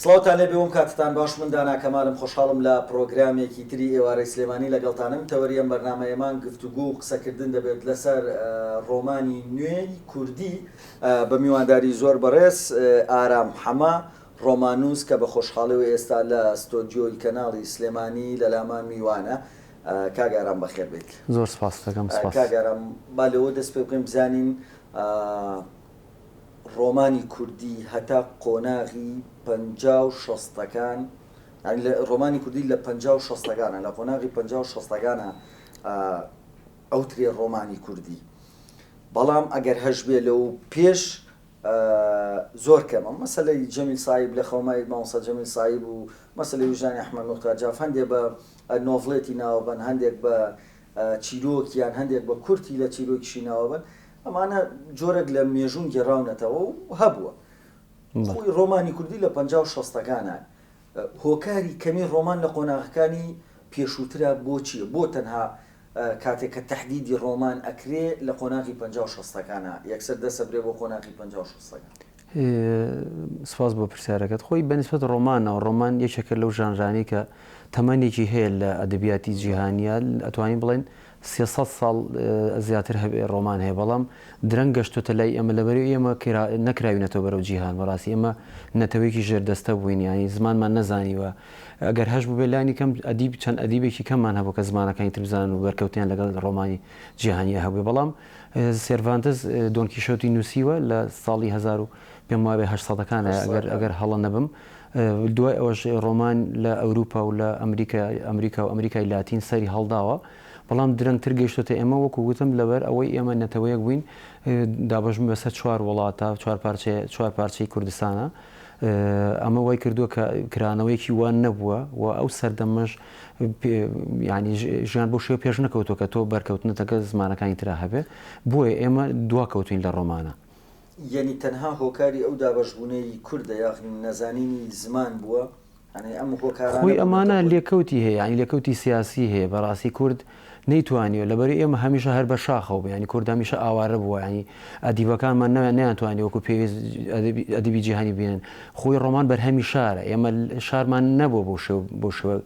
سڵاوتان لێ بێ وم کاتتان باش من دانا کەمالم خۆشحاڵم لە پڕۆگرامێکی تری ئێوارەی سلێمانی لەگەڵتانم تەوەری ئەم بەرنامەیە مان گفتوگۆ و قسەکردن دەبێت لەسەر ڕۆمانی نوێی کوردی بە میوانداری زۆر بەڕێز ئارام حەمە ڕۆماننووس کە بە خۆشحاڵیەوە ئێستا لە ستۆدیۆی کەناڵی سلێمانی لەلامان میوانە کاک ئارام بەخێر بێیت زۆر سپاستەکەم سپاس کاک ئارام با لەوە دەست پێ بکەین بزانین ڕۆمانی کوردی هەتا قۆناغی پەنجا و شەستەکان، یانی ڕۆمانی کوردی لە پەنجا و شەستەکانە، لە قۆناغی پەنجا و شەستەکانە ئەوترێ ڕۆمانی کوردی، بەڵام ئەگەر هەشبێ لەو پێش زۆر کەمە، مەسەلەی جەمیل سایب لە خەومای مامۆستا جەمیل سایب و مەسەلەی ویژدانی ئەحمەد موختار جاف هەندێ بە نۆڤڵێتی ناوبەن، هەندێک بە چیرۆک یان هەندێک بە کورتی لە چیرۆکیشی ناوبەن، ئەمانە جۆرێک لە مێژوون گێڕاونەتەوە و هەبووە. خۆی ڕۆمانی کوردی لە پەنجا و شەستەکانە. هۆکاری کەمی ڕۆمان لە قۆناغەکانی پێشووترا بۆ چییە؟ بۆ تەنها کاتێک کە تەحدیدی ڕۆمان ئەکرێ لە قۆناغی پەنجا و شەستەکانە، یەکسەر دەسەبرێ بۆ قۆناغی پەنجا و شەستەکان؟ سپاس بۆ پرسیارەکەت. خۆی بە نیسبەت ڕۆمانەوە، ڕۆمان یەکێکە لەو ژانرانەی کە تەمەنێکی هەیە لە ئەدەبیاتی جیهانیا، ئەتوانین بڵێن سێ سەد ساڵ زیاتر هەبێ ڕۆمان هەیە، بەڵام درەنگ گەشتۆتە لای ئێمە، لەبەرئ ئێمە نەکراوینەتەوە بەرەو جیهان، بەڕاستی ئێمە نەتەوەیەکی ژێردەستە بووین، یانی زمانمان نەزانیوە، ئەگەر هەشبووبێ لانی کەم ئەدیب چەند ئەدیبێکی کەممان هەبوو کە زمانەکانی تر بزانن و بەرکەوتنیان لەگەڵ ڕۆمانی جیهانیا هەبووێ، بەڵام سێرڤانتس دۆن کیشۆتی نووسیوە لە ساڵی هەزار و پێم وابێ هەشت سەدەکانە ئەگەر ئەگەر هەڵە نەبم دوای ئەوەش ڕۆمان لە ئەوروپا و لە ئەمریکا ئەمریکا و ئەمریکای لاتین سەری هەڵداوە بەڵام درەنگتر گەیشتۆتە ئێمە وەکو گوتم لەبەر ئەوەی ئێمە نەتەوەیەک بووین دابەش بووین بەسەر چوار وڵاتە چوار پارچەی چوار پارچەی کوردستانە ئەمە وای کردووە کە کرانەوەیەکی وا نەبووە و ئەو سەردەمەش یانی ژیان بۆ شێ پێش نەکەوتۆ کە تۆ بەرکەوتنەتەکە زمانەکانی تررا هەبێ بۆیە ئێمە دوا کەوتین لە ڕۆمانە. یەنی تەنها هۆکاری ئەو دابەشبوونەی کوردە یاخنی نەزانینی زمان بووە؟ خۆی ئەمانە لێکەوتی هەیە یانی لێکەوتی سیاسی هەیە بەڕاستی کورد نەیتوانیوە لەبەری ئێمە هەمیشە هەر بەر شاخەوە بوو یانی کورد هەمیشە ئاوارە بووە یانی ئەدیبەکانمان نەوێ نەیانتوانی وەکوو پێویست ئەدەبی ئەدەبی جیهانی بێنن خۆی ڕۆمان بەرهەمی شارە ئێمە شارمان نەبووە بەو شێوە بەو شێوە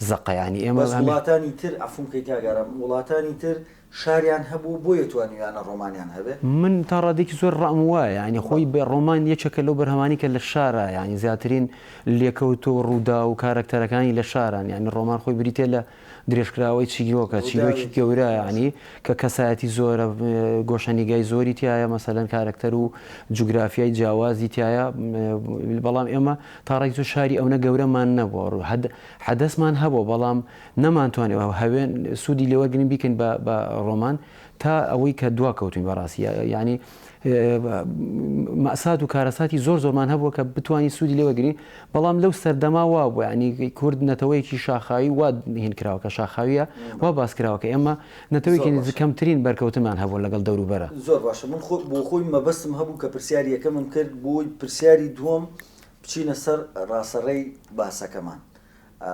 زەقە یانی ئێمە بەس وڵاتانی تر عەفووم کەی کاک ئارام وڵاتانی تر شاریان هەبوو بۆیە توانیویانە ڕۆمانیان هەبێ. من تا ڕادەیەکی زۆر ڕام وایە یانی خۆی بە ڕۆمان یەکێکە لەو بەرهەمانەی کە لە شارە یانی زیاترین لێکەوتە و ڕووداو و کارەکتەرەکانی لە شارەن یانی ڕۆمان خۆی بریتییە لە درێژکراوەی چیرۆکە، چیرۆکی گەورە یانی کە کەسایەتی زۆرە، گۆشەنیگای زۆری تیایە، مەسەلەن کارەکتەر و جوگرافیای جیاوازی تیایە، بەڵام ئێمە تا ڕێک زۆر شاری ئەونە گەورەمان نەبووە، حەدەسمان هەبووە بەڵام نەمانتوانی هەوێن سوودی لێوەرگرین بیکەین بە ڕۆمان تا ئەوەی کە دواکەوتوین بەڕاستی یانی. مەئسات و کارەساتی زۆر زۆرمان هەبووە کە بتوانین سوودی لێوەگرین بەڵام لەو سەردەما وا بوو ینی کورد نەتەوەیەکی شاخاوی وا هین کراوە کە شاخاویە وا باس کراوە کە ئێمە نەتەوەیەکی زۆر باشە. کەمترین بەرکەوتنمان هەبوو لەگەڵ دەوروبەرە زۆر باشە من خۆ بۆ خۆی مەبەستم هەبوو کە پرسیاری یەکەمم کرد بۆی پرسیاری دووەم بچینە سەر ڕاسەڕێی باسەکەمان ئا.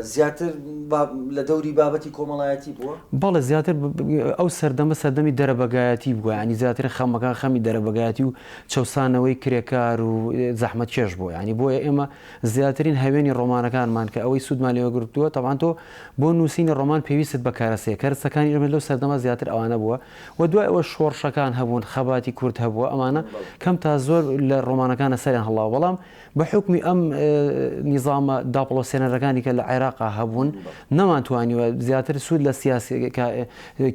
زیاتر لە دەوری بابەتی کۆمەڵایەتی بووە؟ بەڵێ زیاتر ئەو سەردەمە سەردەمی دەرەبەگایەتی بووە یانی زیاتر خەمەکان خەمی دەرەبەگایەتی و چەوسانەوەی کرێکار و زەحمەتکێش بووە یانی بۆیە ئێمە زیاترین هەوێنی ڕۆمانەکانمان کە ئەوەی سوودمان لێوە گرتووە تەبعەن تۆ بۆ نووسینی ڕۆمان پێویستت بە کەرەسەیە کەرەسەکانی ئێمە لەو سەردەمە زیاتر ئەوانە بووە و دوای ئەوەش شۆڕشەکان هەبوون خەباتی کورد هەبووە ئەمانە کەم تا زۆر لە ڕۆمانەکانە سەریان هەڵاوە بەڵام بە حوکمی ئەم نیزامە داپڵۆسێنەرەکانی کە لە عێراقا هەبوون، نەمانتوانیوە زیاتر سوود لە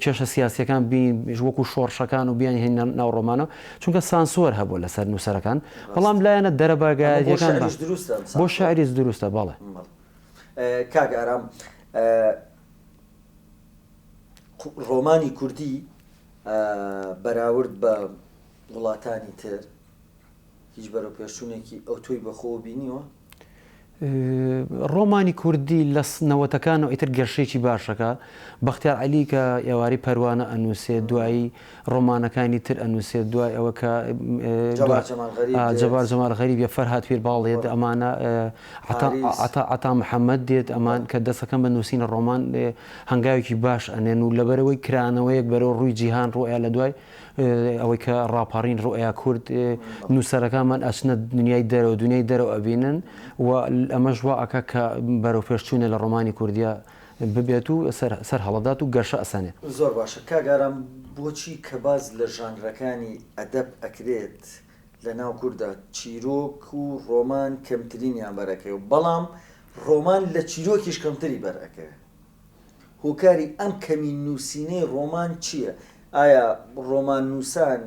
کێشە سیاسییەکان بینین وەکوو شۆڕشەکان و بیانهێنینە ناو ڕۆمانەوە، چونکە سانسۆر هەبوو لەسەر نووسەرەکان، بەڵام لایەنە دەرەبەگایەتییەکان بە. بۆ شاعیریش دروستە، بەڵێ. کاک ئارام، ڕۆمانی کوردی بەراورد بە وڵاتانی تر، هیچ بەرەوپێشچوونێکی ئەوتۆی بەخۆوە بینیوە؟ ڕۆمانی کوردی لە نەوەتەکانەوە ئیتر گەشەیەکی باش ئەکا. بەختیار عەلی کە ئێوارەی پەروانە ئەنووسێت، دوایی ڕۆمانەکانی تر ئەنووسێت، دوای ئەوە کە جەبار جەمال غەریب یە، فەرهاد پیرباڵ دێت، ئەمانە عەتا عەتا محەمەد دێت، ئەمان کە دەست ئەکەن بە نووسینی ڕۆمان هەنگاوێکی باش ئەنێن و لەبەرئەوەی کرانەوەیەک بەرەو ڕووی جیهان ڕوو ئەیا لە دوای ئەوەی کە ڕاپەڕین ڕوئیا کورد نووسەرەکانمان ئەچنە دنیای دەرەوە دنیای دەرەوە ئەبینن و ئەمەش وا ئەکا کە بەرەو پێشچوونە لە ڕۆمانی کوردیا ببێت و سەر هەڵەدات و گەشە ئەسەنێ. زۆر باشە کاک ئارام بۆچی کە باس لە ژانرەکانی ئەدەب ئەکرێت لە ناو کوردا چیرۆک و ڕۆمان کەمترینیان بەرئەکەوێ بەڵام ڕۆمان لە چیرۆکیش کەمتری بەرئەکەوێ هۆکاری ئەم کەمی نووسینەی ڕۆمان چییە؟ ئایا ڕۆماننووسان،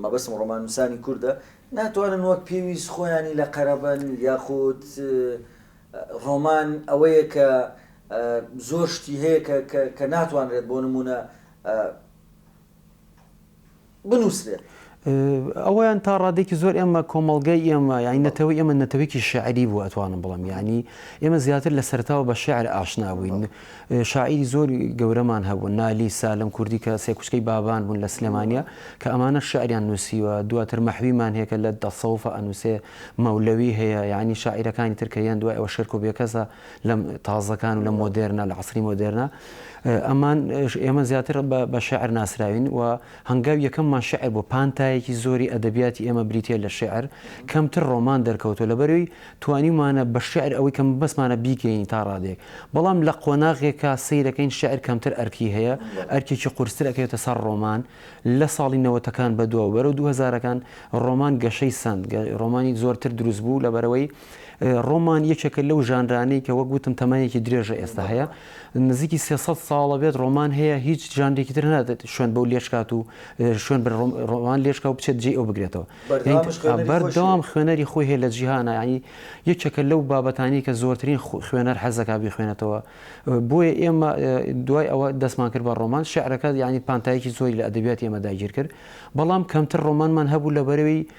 مەبەستم ڕۆماننووسانی کوردە، ناتوانن وەک پێویست خۆیانی لە قەرەبن یاخود ڕۆمان ئەوەیە کە زۆر شتی هەیە کە ناتوانرێت بۆ نموونە بنووسرێت. ئەوەیان تا ڕادەیەکی زۆر ئێمە کۆمەڵگای ئێمە یانی نەتەوەی ئێمە نەتەوەیەکی شیعری بوو ئەتوانم بڵێم یانی ئێمە زیاتر لە سەرەتاوە بە شیعر ئاشنا بووین شاعیری زۆر گەورەمان هەبوو نالی سالم کوردی کە سێ کوچکەی بابان بوون لە سلێمانیا کە ئەمانە شعریان نووسیوە دواتر مەحویمان هەیە کە لە دەسەوفە ئەنووسێ مەولەوی هەیە یانی شاعیرەکانی تر کە یان دوای ئەوە شێرکۆ بێکەسە لەم تازەکان و لە مۆدێرنە لە عەسری مۆدێرنە ئەمان ئێمە زیاتر بە شعر ناسراوین و هەنگاو یەکەممان شعر بۆ پانتایەکی زۆری ئەدەبیاتی ئێمە بریتە لە شعر کەمتر ڕۆمان دەرکەوتۆ لە بەروی توانیمانە بە شعر ئەوەی کەم بەسمانە بیکەین تا ڕادێک بەڵام لە قۆناغێکا سیرەکەین شعر کەمتر ئەرکی هەیە ئەرکێکی قورسترەکەێتە سەر ڕۆمان لە ساڵی نەوەتەکان بەدووە بەرە دوهزارەکان ڕۆمان گەشەی سند ڕۆمانی زۆرتر دروست بوو لە بەرەوەی ڕۆمان یەکێکە لەو ژانرانەی کە وەک وتم تەمەنێکی درێژە ئێستا هەیە نزیکی سێ سەد ساڵە بێت ڕۆمان هەیە هیچ ژانرێکی تر نادێت شوێن بەو لێشکات و شوێن بە ڕۆم- ڕۆمان لێشکا و بچێت جێی ئەو بگرێتەوە بەردەوام هیچ خوێنەری خۆشی بەردەوام هەیە. خوێنەری خۆی هەیە لە جیهانا یانی یەکێکە لەو بابەتانەی کە زۆرترین خو- خوێنەر حەز دەکات بیخوێنێتەوە بۆیە ئێمە ئێ، دوای ئەوە دەستمان کرد بە ڕۆمان شیعرەکە یانی پانتایەکی زۆری لە ئەدەبیاتی ئێمە داگیر کرد بەڵام کەمتر ڕۆمانمان هەبوو لە بەرەی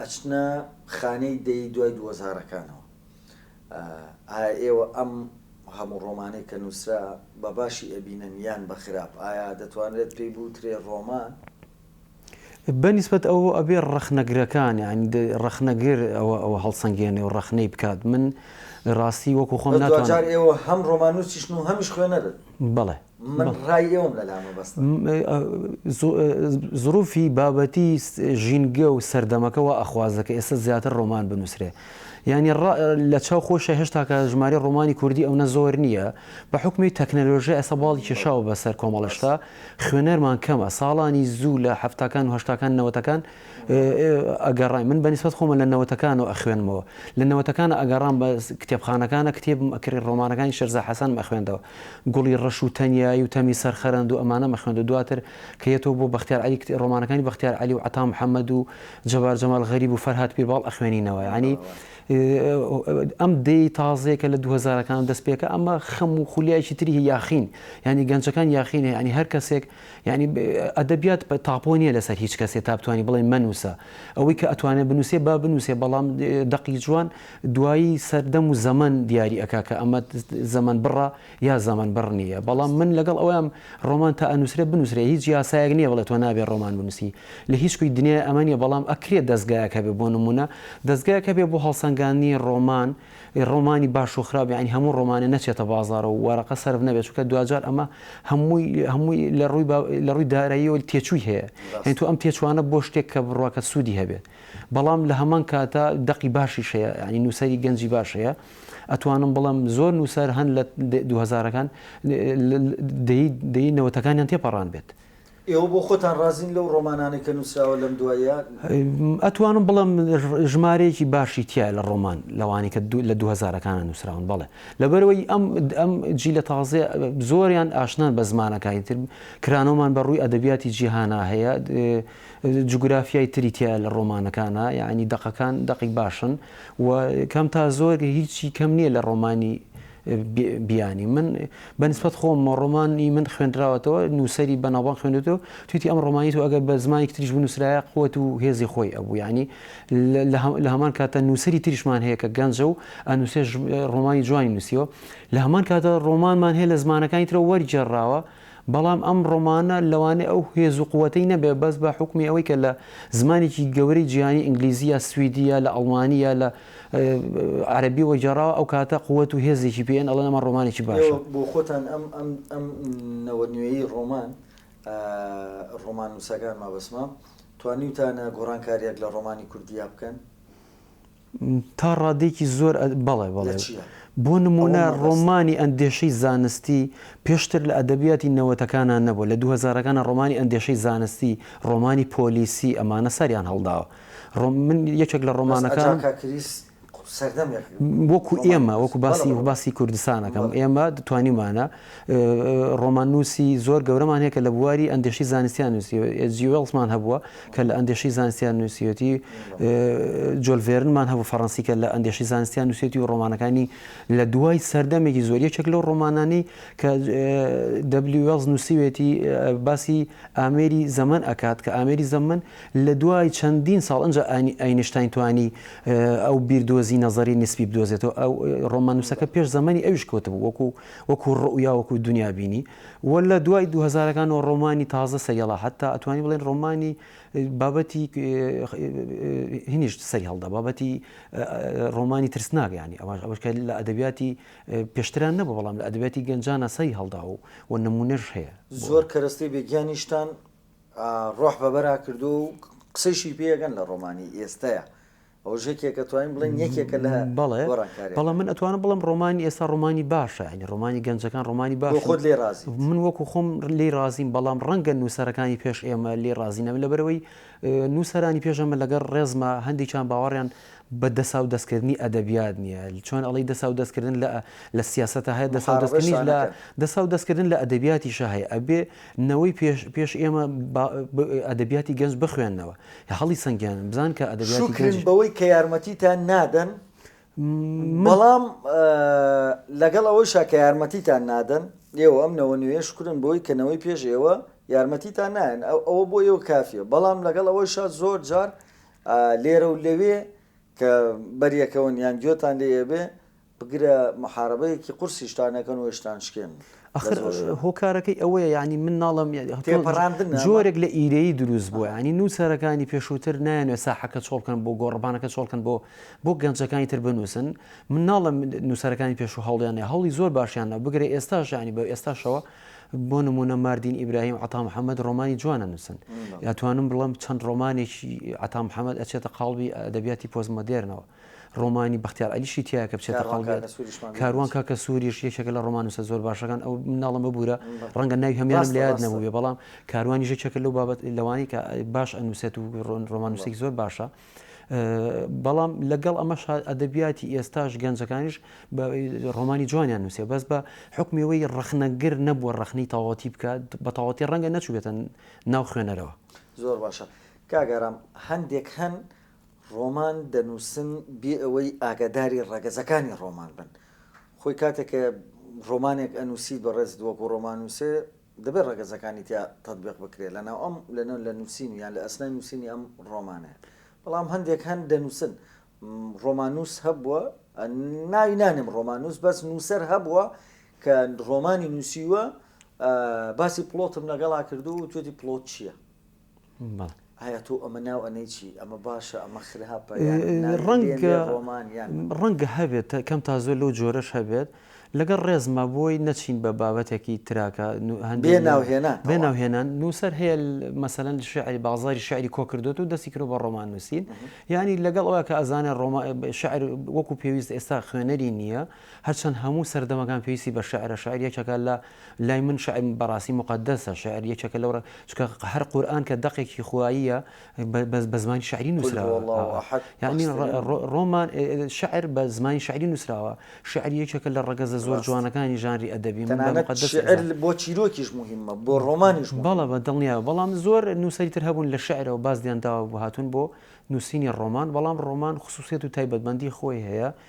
ئەچنە خانەی دەی دوای دووەزارەکانەوە ئایا ئێوە ئەم هەموو ڕۆمانەی کە نووسرا بە باشی ئەبینن یان بە خراپ ئایا دەتوانرێت پێی بوترێ ڕۆمان؟ بە نیسبەت ئەوە ئەبێ ڕەخنەگرەکان یانی ڕەخنەگر ئەوە ئەوە هەڵسەنگێنێ و ڕەخنەی بکات من ڕاستی وەکو خۆم ناتوانم. بەس دواجار ئێوە هەم ڕۆماننووسیشن و هەمیش خوێنەرن؟ بەڵێ. من ڕای ئێوەم لە لا مەبەستە. زروفی بابەتی ژینگە و سەردەمەکە وا ئەخوازە کە ئێستا زیاتر ڕۆمان بنووسرێ. یانی لە چاو خۆشە هێشتا کە ژمارەی ڕۆمانی کوردی ئەونە زۆر نییە. بە حوکمی تەکنەلۆژیا ئێستا باڵی کێشاوە بەسەر کۆمەڵەشتا، خوێنەرمان کەمە. ساڵانی زوو لە هەفتاکان و هەشتاکان نەوەتەکان، ئەگەڕای من بە نیسبەت خۆمە لە نەوەتەکانەوە ئەخوێنمەوە لە نەوەتەکانە ئەگەڕام بە کتێبخانەکانە کتێبم ئەکڕی ڕۆمانەکانی شێرزا حەسەنم ئەخوێندەوە گوڵی ڕەش و تەنیایی و تەمی سەر خەرەند و ئەمانەم ئەخوێند و دواتر کە یەتەوە بۆ بەختیار عەلی کتێ ڕۆمانەکانی بەختیار عەلی و عەتا محەمەد و جەبار جەمال غەریب و فەرهاد پیرباڵ ئەخوێنینەوە یانی ئەم دێی تازەیە کە لە دوو هەزارەکان دەست پێکا ئەمە خەم و خولیایەکی تری هەیە یاخین یانی گەنجەکان یاخینە یانی هەر کەسێک یەعنی ئەدەبیات تاپۆ نیە لەسەر هیچ کەسێ تا بتوانی بڵێ مەنووسە. ئەوەی کە ئەتوانێ بنووسێ با بنووسێ بەڵام دەقی جوان دوایی سەردەم و زەمەن دیاری ئەکا کە ئەمە زەمەن بڕە یا زەمەن بڕ نیە. بەڵام من لەگەڵ ئەوەم ڕۆمان تا ئەنووسرێ بنووسرێ هیچ یاسایەک نیە بڵێ تۆ نابێ ڕۆمان بنووسی لە هیچ کوی دنیای ئەمە نیە بەڵام ئەکرێ دەزگایەک هەبێ بۆ نموونە دەزگایەک هەبێ بۆ هەڵسەنگاندنی ڕۆمان ی ڕۆمانی باش و خراپ یانی هەموو ڕۆمانێ نەچێتە بازاڕ و وەرەقە سەرف نەبێت چونکە دواجار ئەمە هەمووی هەمووی لە ڕووی با لە ڕووی داراییەوە تێچووی هەیە یانی تۆ ئەم تێچووانە بۆ شتێک کە بڕواکەت سوودی هەبێت بەڵام لە هەمان کاتا دەقی باشیش هەیە یانی نووسەری گەنجی باش هەیە ئەتوانم بڵێم زۆر نووسەر هەن لە دوو هەزارەکان دەیەی دەیەی نەوەتەکانیان تێپەڕان بێت. ئێوە بۆ خۆتان ڕازین لەو ڕۆمانانەی کە نووسراوە لەم دواییە؟ ئەتوانم بڵێم ژمارەیەکی باشی تیایە لە ڕۆمان لەوانەی کە لە دوو هەزارەکانە نووسراون بەڵێ لەبەرەوەی ئەم ئەم جیلە تازەیە زۆریان ئاشنان بە زمانەکانی تر کرانەوەمان بە ڕووی ئەدەبیاتی جیهانا هەیە جوگرافیای تری تایە لە ڕۆمانەکانە یعنی دەقەکان دەقی باشن و کەم تا زۆر هیچی کەم نییە لە ڕۆمانی بیانی من بە نسبەت خۆم ڕۆمانی من خوێندراوەتەوە نووسری بەناوبان خوێنێتەوە تویتی ئەم ڕۆمانی و ئەگەر بە زمانی تریش بنووسرایە قوت و هێزی خۆی ئەبوو ینی لە هەمان کاتە نووسری تریشمان هەیە کە گەنجە و ئەنووسێ ڕۆمانی جوانی نووسیەوە لە هەمان کاتە ڕۆمانمان هەیە لە زمانەکانی ترە وەرگێڕاوە بەڵام ئەم ڕۆمانە لەوانەیە ئەو هێز و قوەتەی نەبێت بەس بە حوکمی ئەوەی کە لە زمانێکی گەورەی جیهانی ئینگلیزی یا سویدی یا لە ئەڵمانی یا لە عەرەبیەوە گێڕاوە ئەو کاتە قوەت و هێزێکی پێ ئێن ئەڵێن ئەمە ڕۆمانێکی باشە. ئێوە بۆ خۆتان ئەم ئەم ئەم نەوە نوێیەی ڕۆمان ڕۆماننووسەکان مەبەستمە توانیوتانە گۆڕانکارییەک لە ڕۆمانی کوردییا بکەن؟ تا ڕادەیەکی زۆر بەڵێ بەڵێ. بۆ نموونە ڕۆمانی ئەندێشەی زانستی پێشتر لە ئەدەبیاتی نەوەتەکانا نەبووە، لە دوو هەزارەکانا ڕۆمانی ئەندێشەی زانستی، ڕۆمانی پۆلیسی ئەمانە سەریان هەڵداوە. من یەکێک لە ڕۆمانەکانم. بەس ئەجاکا کریس سەردەمێک بوو. وەکوو ئێمە، وەکوو باسی کوردستان ئەکەم، ئێمە توانیومانە. ڕۆماننووسی زۆر گەورەمان هەیە کە لە بواری ئەندێشەی زانستییان نووسیوە، ئێچ جی وێڵزمان هەبووە کە لە ئەندێشەی زانستییان نووسیوەتی، جۆل ڤێرنمان هەبوو فەڕەنسی کە لە ئەندێشەی زانستییان نووسیوەتی و ڕۆمانەکانی لە دوای سەردەمێکی زۆر یەکێک لەو ڕۆمانانەی کە دەبلیو وێڵز نووسیوێتی باسی ئامێری زەمەن ئەکات کە ئامێری زەمەن لە دوای چەندین ساڵ ئەنجا ئەینشتاین توانی ئەو بیردۆزی نەزەری نیسبی بدۆزێتەوە، ڕۆماننووسەکە پێش زەمەنی ئەویش کەوتبوو وەکوو وەکو ڕوئیا وەکو دونیا بینی و لە دوای دوو هەزارەکانەوە ڕۆمانی تازە سەریەڵا حتا ئەتوانی بڵێن ڕۆمانی بابەتی هینیشت سەری هەڵدا بابەتی ڕۆمانی ترسناک ینی ئەوان ئەوەکە لە ئەدەبیاتی پێشتران نەبە بەڵام لە ئەدەبیاتی گەنجانە سەری هەڵدا و و نمونەش هەیە زۆر کەرەستەی بێگیانیشتان ڕۆح بەبەرا کردو و قسەیشی پێگەن لە ڕۆمانی ئێستەیە ئەوەش یەکێکە توانین بڵێین یەکێکە لە گۆڕانکاریەکان. بەڵێ بەڵام من ئەتوانم بڵێم ڕۆمانی ئێستا ڕۆمانی باشە یانی ڕۆمانی گەنجەکان ڕۆمانی باشە. بۆ خۆت لێی ڕازیت؟ من وەکوو خۆم لێی ڕازیم بەڵام ڕەنگە نووسەرەکانی پێش ئێمە لێی ڕازی نەبن لەبەرئەوەی نووسەرانی پێش ئەمە لەگەڵ ڕێزما هەندێکیان باوەڕیان بە دەسا و دەستکردنی ئەدەبیات نییە چۆن ئەڵی دەسا و دەستکردن لە لە سیاسەتە هەیە دەسا و دەستکردنیش لە دەسا و دەستکردن لە ئەدەبیاتیشە هەیە ئەبێ نەوەی پێش پێش ئێمە ئەدەبیاتی گەنج بخوێنەوە لە هەڵی سەنگیانن بزان کە ئەدەبیاتی گەنج. شوکرن بەوەی کە یارمەتیتان نادەن بەڵام لەگەڵ ئەوەیشا کە یارمەتیتان نادەن ئێوە ئەم نەوە نوێیە شوکرن بەوەی کە نەوەی پێش ئێوە یارمەتیتان نایەن ئەوە بۆ ئێوە کافیە بەڵام لەگەڵ ئەوەیشا زۆر جار لێرە و لەوێ کە بەریەکەون یان گوێتان لێ ئەبێ بگرە محارەبەیەکی قورسیش تا نەکەن و هێشتان شکێن ئەخر هۆکارەکەی ئەوەیە یانی من ناڵم جۆرێک لە ئیرەیی دروست بووە ینی نووسەرەکانی پێشووتر نایەنێ ساحەکە چۆڵکەن بۆ گۆڕبانەکە چۆڵکەن بۆ بۆ گەنجەکانی تر بنووسن من ناڵم نووسەرەکانی پێشوو هەڵیانێ هەڵی زۆر باشیانە بگرێ ئێستا ژانی بە ئێستاشەوە بۆ نمونە ماردین ئیبراهیم عتا محەممەد ڕۆمانی جوانە نووسن یاتوانم بڵم چەند ڕۆمانێکی عتا محەممەد ئەچێتە قاڵبی ئەدەبیاتی پۆزمەدێرنەوە ڕۆمانی بەختیار عەلیشی تیایە کە بچێتە کاروان قەڵبێت. کاکە سووریشمان بێ کاروان ناچێ. کاکە سووریش یەکێکە لە ڕۆماننووسە زۆر باشەکان، ئەو مناڵە مەبوورە، ڕەنگە ناوی هەموویانم ڕاستە، لە یاد ڕاستە. نەبووبێ، بەڵام کاروانیش یەکێکە لەو بابەت لەوانەی کە باش ئەنووسێت و ڕۆن ڕۆماننووسێکی زۆر باشە. ئە، بەڵام لەگەڵ ئەمەشا ئەدەبیاتی ئێستاش گەنجەکانیش بە ئە، ڕۆمانی جوانیان نووسیوە، بەس بە حوکمی ئەوەی ڕەخنەگر نەبووە ڕەخنەی تەواوەتی بکات، بە تەواوەتی ڕەنگە نەچووبێتە ناو خوێنەرەوە. زۆر باشە. کاک ئارام هەندێک هەن ڕۆمان دەنووسن بێ ئەوەی ئاگاداری ڕەگەزەکانی ڕۆمان بن. خۆی کاتێک کە ڕۆمانێک ئەنووسیت بەڕێزت وەکوو ڕۆماننووسێ دەبێ ڕەگەزەکانی تیا تەتبیق بکرێ لەناو ئەم لەناو لە نووسین و یان لە ئەسنای نووسینی ئەم ڕۆمانەیە. بەڵام هەندێک هەن دەنووسن ڕۆماننووس هەبووە ناوی نانێم ڕۆماننووس بەس نووسەر هەبووە کە ڕۆمانی نووسیوە باسی پڵۆتم لەگەڵا کردووە و توێتی پڵۆت چییە؟ بەڵێ. ئایا تۆ ئەمە ناو ئەنێی چی؟ ئەمە باشە ئەمە خراپە یان ناردنێ ڕۆمان یان. ڕەنگە هەبێت کەم تا زۆر لەو جۆرەش هەبێت، لەگەڵ ڕێزما بۆی نەچین بە بابەتێکی تراکە هەندێک. بێ ناو هێنان. بێ ناو هێنان، نووسەر هەیە مەسەلەن شیعری بازاڕی شیعری کۆ کردۆتە و دەستی کردووە بە ڕۆمان نووسین، یانی لەگەڵ ئەوە کە ئەزانێ ڕۆما شیعر وەکوو پێویست ئێستا خوێنەری نییە، هەرچەند هەموو سەردەمەکان پێویستی بە شیعرە، شیعر یەکێکە لە، لای من شیعر بەڕاستی موقەدەسە، شیعر یەکێکە لەو ڕێ، چونکە هەر قورئان کە دەقێکی خواییە بە بە زمانی شیعری قل هو نووسراوە، الله ئاغا، احد یانی ڕ بەختترین ڕۆ ڕۆمان شیعر بە زمانی شیعری نووسراوە، شیعر یەکێکە لە ڕەگەزە زۆر ڕاست. جوانەکانی ژانری ئەدەبی، من بە تەنانەت موقەدەس شیعر ئەزان. بۆ چیرۆکیش موهیمە، بۆ ڕۆمانیش بەڵێ موهیمە. بە دڵنیایەوە، بەڵام زۆر نووسەری تر هەبوون لە شیعرەوە باز لێیان داوە و هاتوون بۆ نووسینی ڕۆمان، بەڵام ڕۆمان خسووسیەت و تایبەتمەندی خۆی هەیە،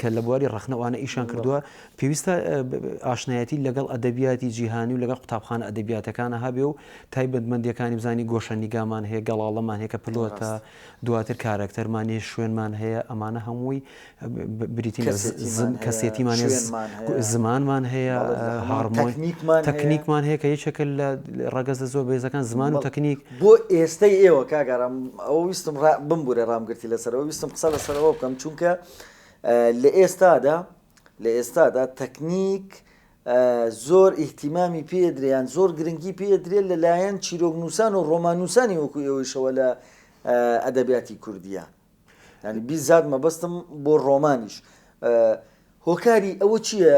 کە لە بواری ڕەخنە و ئانە ئیشیان کردووە، پێویستە ئاشنایەتی لەگەڵ ئەدەبیاتی جیهانی و لەگەڵ قوتابخانە ئەدەبیاتەکانە هەبێ و تایبەتمەندییەکانی بزانین، گۆشە نیگامان هەیە، گەڵاڵەمان هەیە کە پلۆتە، دواتر کارەکتەرمان هەیە، شوێنمان هەیە، ئەمانە هەمووی بریتین لە کەسێتیمان هەیە، زمانمان هەیە، هارمۆنی تەکنیکمان هەیە کە یەکێکە لە ڕەگەزە زۆر بەهێزەکان، زمان و تەکنیک. بۆ ئێستەی ئێوە کاک ئارام ئەوە ویستم ڕا بمبورە ڕام گرتی لەسەر ئەوە ویستم قسە لەسەر ئەوە بکەم چونکە لە ئێستادا لە ئێستادا تەکنیک زۆر ئیهتیمامی پێدریان زۆر گرنگی پێدرێت لەلایەن چیرۆکنووسان و ڕۆماننووسانی وەکو ئێوەیشەوە لە ئەدەبیاتی کوردیە ینی بیزات مەبەستم بۆ ڕۆمانیش هۆکاری ئەوە چییە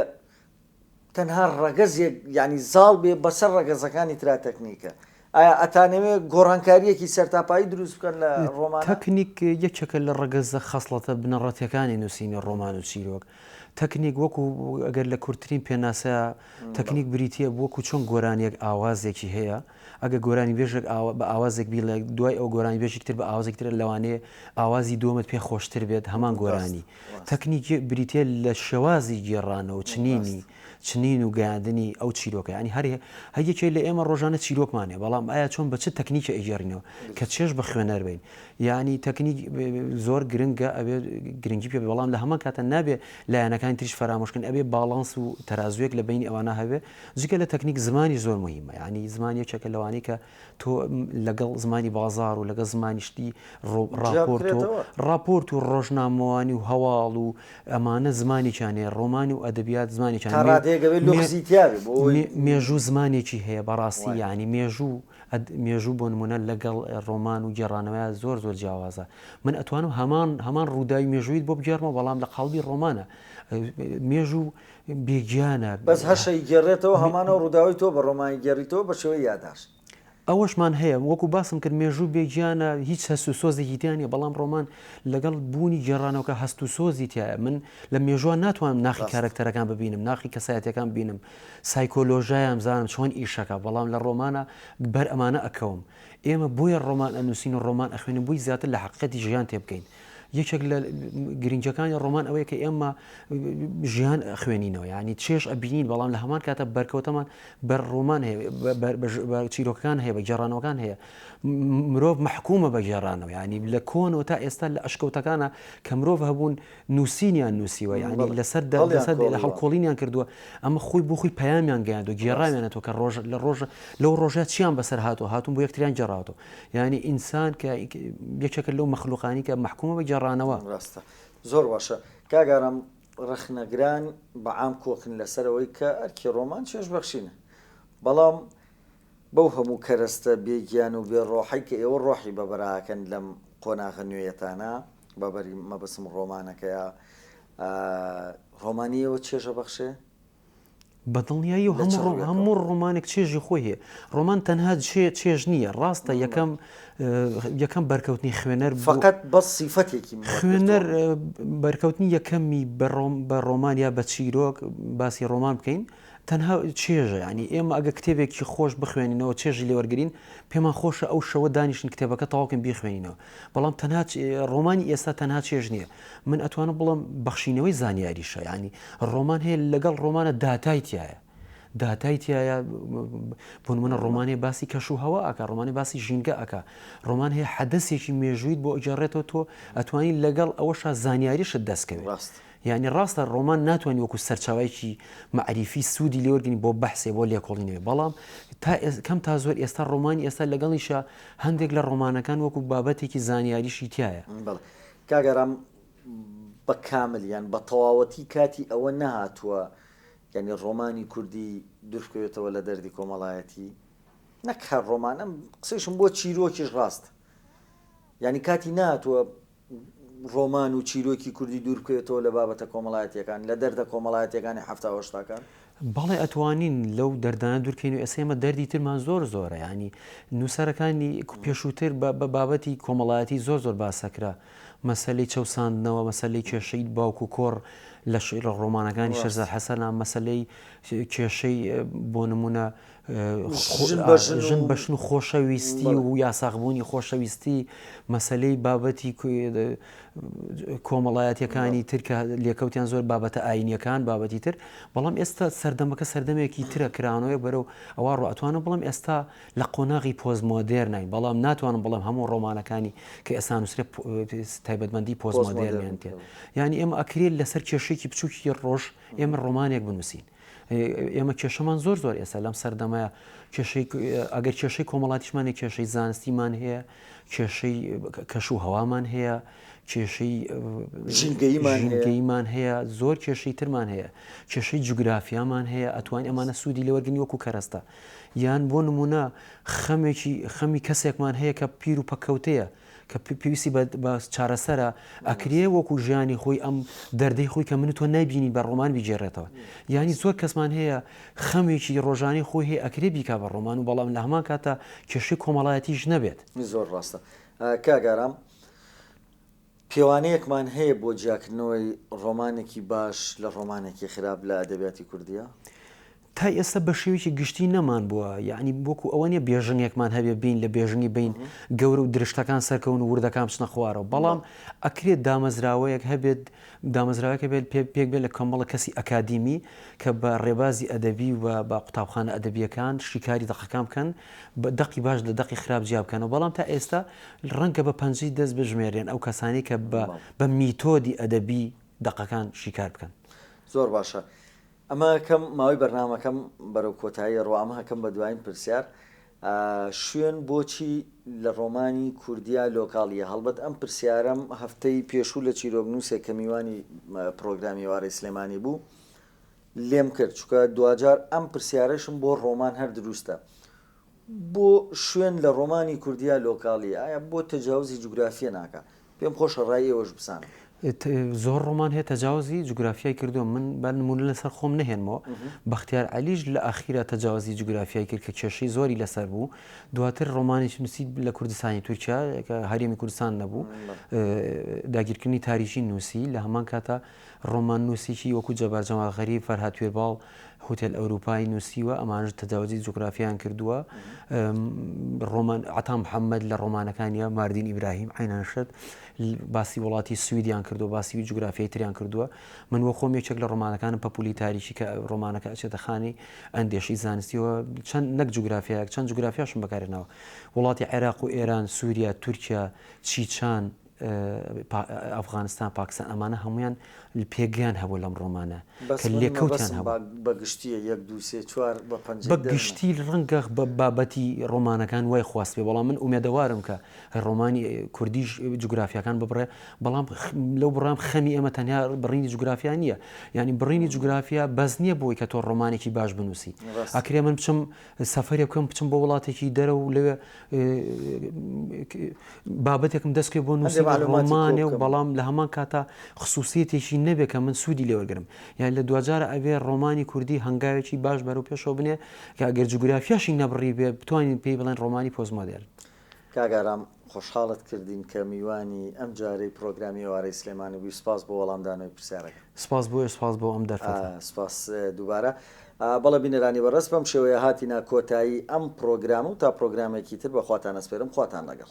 تەنها ڕەگەزێک یانی زاڵ بێ بەسەر ڕەگەزەکانی ترا تەکنیکە. ئایا ئەتانەوێ گۆڕانکارییەکی سەرتاپایی دروست بکەن لە ڕۆمانە؟ تەکنیک یەکێکە لە ڕەگەزە خەسڵەتە بنەڕەتیەکانی نووسینی ڕۆمان و چیرۆک. تەکنیک وەکو گەر لە کورتترین پێناسە تەکنیک بریتیە بووەکو چۆن گۆرانیەک ئاوازێکی هەیە، ئەگەر گۆرانیبێژێک بە ئاوازێک بیڵێت دوای ئەو گۆرانیبێژێکی تر بە ئاوازێکی تر لەوانەیە ئاوازی دووەمت پێ خۆشتر بێت هەمان گۆرانی. تەکنیک بریتییە لە شێوازی گێڕانەوە و چنینی چنین و گەیاندنی ئەو چیرۆکە یانی هەر هەر یەکێ لە ئێمە ڕۆژانە چیرۆکمان هەیە بەڵام ئایا چۆن بە چ تەکنیکێ ئەیگێڕینەوە کە چێژ بە خوێنەر بین یانی تەکنیک زۆر گرنگە ئەبێ گرنگی پێ بەڵام لە هەمان کاتە نابێ لایەنەکانی تریش فەرامۆش کەین ئەبێ باڵانس و تەرازووێک لە بەینی ئەوانە هەبێ جگە لە تەکنیک زمانیش زۆر موهیمە یانی زمان یەکێکە لەوانەی کە تۆ لەگەڵ زمانی بازاڕ و لەگە زمانی شتی ڕۆ ڕاپۆرت و ڕاپۆرت و ڕۆژنامەوانی و هەواڵ و ئەمانە زمانێکیان هەیە ڕۆمانی و ئەدەبیات زمانێکیان تا ڕادەیەک ئەوێ لوغزی تیا بێ بۆ ئەوەی مێ مێژوو زمانێکی هەیە بەڕاستی وایە یانی مێژوو ئەد مێژوو بۆ نموونە لەگەڵ ڕۆمان و گێڕانەوەیان زۆر زۆر جیاوازە من ئەتوانم هەمان هەمان ڕووداوی مێژوویت بۆ بگێڕمەوە بەڵام لە قاڵبی ڕۆمانە مێژوو بی گیانە. بەس هەشە ی گێڕێتەوە هەمان ئەو ڕوداوەی تۆ بە ڕۆمان ی گێڕیتەوە بە شێوەی یاداشت. ئەوەشمان هەیە وەکو باسم کرد مێژوو بێ گیانە هیچ هەست و سۆزێکی تیا نیە بەڵام ڕۆمان لەگەڵ بوونی گێڕانەوەکە هەست و سۆزی تیایە من لە مێژووە ناتوانم ناخی کارەکتەرەکان ببینم ناخی کەسایەتیەکان بینم سایکۆلۆژایان بزانم چۆن ئیشەکە بەڵام لە ڕۆمانە بەر ئەمانە ئەکەوم ئێمە بۆیە ڕۆمان ئەنوسین و ڕۆمان ئەخوێنین بۆی زیاتر لە حەقیقەتی ژیان تێبگەین یەکێک لە گرنگەکانی ڕۆمان ئەوەیە کە ئێمە ژیان خوێنینەوە ینی چێش ئەبینین بەڵام لە هەمان کاتە بەرکەوتەمان بەر ڕۆمان هەیە چیرۆکەکان هەیە بە گێڕانەوەکان هەیە مرۆڤ مححکومە بە گێڕانەوە ینی لە کۆنەوە تا ئێستا لە ئەشکەوتەکانە کە مرۆڤ هەبوون نووسینیان نووسیوە ینی لەسەر لەسەر لە هەڵکۆڵینیان کردووە ئەمە خۆی بۆ خۆی پەیامیان گەیاند و گێڕاوێنێتەوە کە ڕۆژ لە ڕۆژە لەو ڕۆژە چیان بەسەر هاتو هاتون بۆ یەکتریان جێڕاوەوە یانی ئینسان کە یەکێکە لەو مەخلوقانی کە مەحکومە بە گێڕانەوە. ڕاستە زۆر باشە کاک ئارام ڕەخنەگران بە عام کۆکن لەسەرەوەی کە ئەرکی ڕۆمان چێژبەخشینە بەڵام بەو هەموو کەرەستە بێ گیان و بێ ڕۆحەی کە ئێوە ڕۆحی بەبەر ئاکەن لەم قۆناغە نوێیەتانا بەبەری مەبەستم ڕۆمانەکەیە ڕۆمانی ئێوە چێژەبەخشێ؟ بە دڵنیایی و لە چ هەموو ڕۆ- ڕووێکەوە؟ هەموو ڕۆمانێک چێژی خۆی هەیە ڕۆمان تەنها چێ- چێژ نییە ڕاستە یەکەم اه، یەکەم بەرکەوتنی خوێنەر بۆ- فەقەت بەس سیفەتێکی منت خوێنەر گرتووە. اه، بەرکەوتنی یەکەمی بە ڕۆم- بە ڕۆمان یا بە چیرۆک باسی ڕۆمان بکەین تەنها چێژە یانی ئێمە ئەگە کتێبێکی خۆش بخوێنینەوە چێژی لێ وەرگرین پێمان خۆشە ئەو شەوە دانیشتن کتێبەکە تەواو بکەین بیخوێنینەوە بەڵام تەنها چ- اه، ڕۆمانی ئێستا تەنها چێژ نییە من ئەتوانم بڵێم بەخشینەوەی زانیاریشە یانی ڕۆمان هەیە لەگەڵ ڕۆمانە داتای تایە داتای تایە بۆنمونە ڕۆمانێ باسی کەش و هەوا ئەکە ڕۆمانی باسی ژینگە ئەکە ڕۆمان هەیە حەدەسێکی مێژویت بۆ ئەجارڕێتەوە تۆ ئەتوانی لەگەڵ ئەوەشا زانیاریشت دەستکەوێت ڕاست یعنی ڕاستە ڕۆمان ناتوانانی وەکو سەرچاوایکی معریفی سوودی لێوەرگنی بۆ بەحسێ بۆ لێکۆڵینەوە بەڵام تا کەم تا زۆر ئێستا ڕۆمانی ئێستا لەگەڵیشە هەندێک لە ڕۆمانەکان وەکو بابەتێکی زانیاریشی تایە. کاک ئارام بە کامل یان بە تەواوەتی کاتی ئەوە نەهاتووە یانی ڕۆمانی کوردی دوربکەوێتەوە لە دەردی کۆمەڵایەتی؟ نەک هەر ڕۆمان ئەم قسەیشم بۆ چیرۆکیش ڕاستە یانی کاتی ناتووە ڕۆمان و چیرۆکی کوردی دووربکەوێتەوە لە بابەتە کۆمەڵایەتیەکان لە دەردە کۆمەڵایەتیەکانی حەفتا و هەشتاکان؟ بەڵێ ئەتوانین لەو دەردانە دورکەین و ئێستا ئێمە دەردی ترمان زۆر زۆرە یانی نوسەرەکانی پێشوتر بە بابەتی کۆمەڵایەتی زۆر زۆر باسەکرا مەسەلەی چەوساندنەوە مەسەلەی کێشەی باوک و کۆڕ لە شیعرە ڕۆمانەکانی شێرزاد حەسەنە مەسەلەی کێشەی بۆ نمونە ژن بەژن و خۆشەویستی و یاساغبوونی خۆشەویستی مەسەلەی بابەتی کۆمەڵایەتەکانی تر کە لێکەوتیان زۆر بابەتە ئاینیەکان بابەتی تر بەڵام ئێستا سەردەمەکە سەردەمێکی ترە کرانەوەی بەرەو ئەوە ڕاتوانە بڵم ئێستا لە قۆناغی پۆز مۆدێر نای بەڵام ناتوانم بڵم هەموو ڕۆمانەکانی کە ئێستا نووسرە تایبەتمەندی پۆز مۆدێرنێن ینی ئێمە ئەکرێت لەسەر کێشێکی بچووکی ڕۆژ ئێمە ڕۆمانێک بنووسین ئێمە کێشەمان زۆر زۆر ئێستا لەم سەردەمەیە کێشەی ئەگەر کێشەی کۆمەڵاتیشمانە کێشەی زانستیمان هەیە کێشەی کەش و هەوامان هەیە کێشەی ژینگەیمان هەیە زۆر کێشەی ترمان هەیە کێشەی جوگرافیامان هەیە ئەتوان ئەمانە سوودی لەوەرگنی وەکو کەرەستە یان بۆ نمونە خەمێکی خەمی کەسێکمان هەیە کە پیر و پەکەوتەیە کە پێویستی بە چارەسەرە ئەکرێ وەکو ژیانی خۆی ئەم دەردەی خۆی کە من تۆ نایبینی بە ڕۆمان بیگێڕێتەوە یانی زۆر کەسمان هەیە خەمێکی ڕۆژانی خۆی هەیە ئەکرێ بیکا بە ڕۆمان و بەڵام لە هەمان کاتە کێشەی کۆمەڵایەتیش نەبێت زۆر ڕاستە کاگارام پێوانەیەکمان هەیە بۆ جیاکردنەوەی ڕۆمانێکی باش لە ڕۆمانێکی خراپ لە ئەدەبیاتی کوردیە؟ تای ئێستا بە شێوەیەکی گشتی نەمانبووە، یەعنی وەکو ئەوە نییە بێژنگێکمان هەبێ بێین لە بێژنگی بین گەورە و درشتەکان سەرکەون و وردەکان بچنە خوارەوە، بەڵام ئەکرێ دامەزراوەیەک هەبێت، دامەزراوەیەک هەبێت پێ پێک بێت لە کۆمەڵە کەسی ئەکادیمی کە بە ڕێبازی ئەدەبی و بە قوتابخانە ئەدەبییەکان شیکاری دەقەکان بکەن، دەقی باش لە دەقی خراپ جیا بکەنەوە، بەڵام تا ئێستا ڕەنگە بە پەنجەی دەست بژمێررێن ئەو کەسانەی کە بە بە میتۆدی ئەدەبی دەقەکان شیکار بکەن. زۆر باشە. ئەمە کەم ماوەی بەرنامەکەم بەرەو کۆتایی ڕوا ئەمە کەم بە دوایین پرسیار شوێن بۆچی لە ڕۆمانی کوردیا لۆکاڵ یە؟ هەڵبەت ئەم پرسیارەم هەفتەی پێشوو لە چیرۆکنووسێک کە میوانی پرۆگرامی ئێوارەی سلێمانی بوو لێم کرد چونکە دواجار ئەم پرسیارەشم بۆ ڕۆمان هەر دروستە بۆ شوێن لە ڕۆمانی کوردیا لۆکاڵی ئایا بۆ تەجاوزی جوگرافیە ناکا؟ پێم خۆشە ڕای ئێوەش بزانم. زۆر ڕۆمان هەیە تەجاوزی جوگرافیای کردووە من با نموونە لەسەر خۆم نەهێنمەوە بەختیار عەلیش لە ئاخیرا تەجاوزی جوگرافیای کرد کە کێشەی زۆری لەسەر بوو دواتر ڕۆمانێکی نووسی لە کوردستانی تورکیا کە هەرێمی کوردستان نەبوو داگیرکردنی تاریژی نووسی لە هەمان کاتا ڕۆماننووسیکی وەکوو جەبار جەمال غەریب، فەرهاد توێرباڵ، هوتێل ئەورووپا، ی نووسیوە، ئەمانەش تەجاوزی جوگرافیایان کردووە. ڕۆمان، عەتا محەممەد لە ڕۆمانەکانیا، ماردین ئیبراهیم، عەینا نەشەت، باسی وڵاتی سویدیان کردووە، باسی جوگرافیای تریان کردووە. من وە خۆم یەکێک لە ڕۆمانەکانم پەپوولی تاریکی کە ڕۆمانەکە ئەچێتە خانەی ئەندێشەی زانستی و چەند نەک جوگرافیایەک چەند جوگرافیاشم بەکار هێناوە. وڵاتی عێراق و ئێران، سووریا، تورکیا، چیچان، ئەفغانستان پاکستان ئەمانە هەموویان پێگەیان هەبوو لەم ڕۆمانە کە لێکەوتیان هەبوو. بەس من مەبەستم بە گشتییە یەک دوو سێ چوار بە پەنجەی دەرمە. بە گشتی ڕەنگە بابەتی ڕۆمانەکان وای خواستبێ بەڵام من ئومێدەوارم کە ڕۆمانی کوردیش جوگرافیاکان ببڕێ بەڵام لەو بڕام خەمی ئێمە تەنیا بڕینی جوگرافیا نییە یانی بڕینی جوگرافیا بەس نییە بۆی کە تۆ ڕۆمانێکی باش بنووسی ئەکرێ من بچم سەفەرێ بکەم بچم بۆ وڵاتێکی دەرە و لەوێ بابەتێکم دەست پێ بۆ نووسێن ڕۆمانێ و بەڵام لە هەمان کاتا خصوصیەتێکی نەبێ کە من سوودی لێوەگرم یان لە دوجارە ئەوێ ڕۆمانی کوردی هەنگاوێکی باش بەرەو پێشەوە بنێ کە ئەگەر جوگرافیاشی نەبڕی بێ بتوانین پێی بڵێن ڕۆمانی پۆزمۆدێر کاک ئارام خۆشحاڵت کردین کە میوانی ئەم جارەی پڕۆگرامی ئێوارەی سلێمانی بووی سپاس بۆ وەڵام دانەوەی پرسیارەکە. سپاس بۆ ئێوە سپاس بۆ ئەم دەرفەتە. سپاس دووبارە. بەڵێ بینەرانی بەڕێز بەم شێوەیە هاتینە کۆتایی ئەم پڕۆگرامە و تا پڕۆگرامێکی تر بەخواتان ئەسپێرم خواتان لەگەڵ.